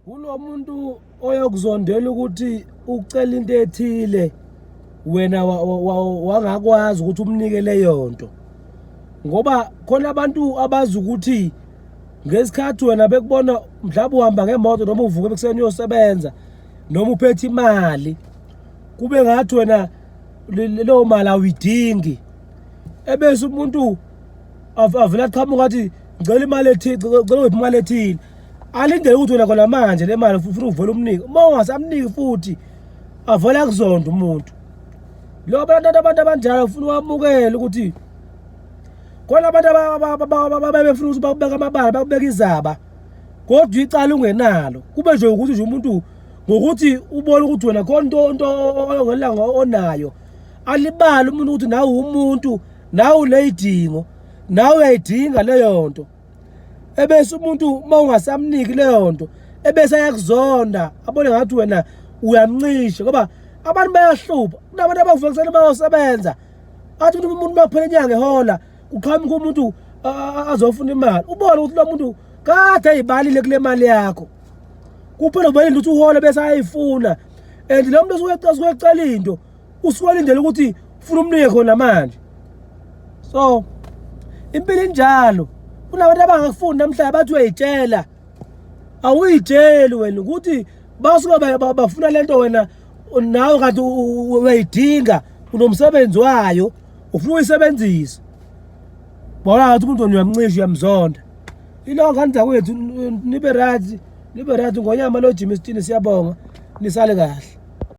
Kulo muntu oyokuzondela ukuthi ucela into ethile wena wangakwazi ukuthi umnike leyo nto ngoba khona abantu abazi ukuthi ngesikhathi wena bekubona mhlawumbe uhamba ngemoto noma uvuke ekuseni uyosebenza noma uphethe imali kube ngathi wena leyo mali awuyidingi ebese umuntu avele aqhamuka athi ngicela imali ethile ngicela uphi imali ethile alindele ukuthi wena khona manje le mali ufuna uvole umnike uma ungasamniki futhi avole akuzonda umuntu lo abantu abantu abanjalo ufuna uwamukele ukuthi khona abantu ababefuna ukuthi bakubeka amabala bakubeka izaba kodwa icala ungenalo kube nje ukuthi nje umuntu ngokuthi ubone ukuthi wena khona into into ongelanga onayo alibali umuntu ukuthi nawe umuntu nawe uneyidingo nawe uyayidinga leyo nto ebese umuntu uma ungasamniki leyo nto ebese ayakuzonda abone ngathi wena uyamncisha ngoba abantu bayahlupha kunabantu abavuka kuseni bayosebenza athi umuntu umuntu makuphela inyanga ehola kuqhamuka umuntu azofuna imali ubone ukuthi lo muntu kade ayibalile kule mali yakho kuphela ubonile ukuthi uhole bese ayayifuna and lo muntu osuke ecela into usuwalindele ukuthi ufuna umnike khona manje so impilo injalo kunabantu abangakufuni namhlanje bathi uyayitshela awuyitsheli wena ukuthi basuke bafuna le nto wena nawe kanti uyayidinga unomsebenzi wayo ufuna uyisebenzisa bona ngathi umuntu wena uyamncisha uyamzonda ilonke anizakwethu nibe right nibe right ngonyama lo jimistini siyabonga nisale kahle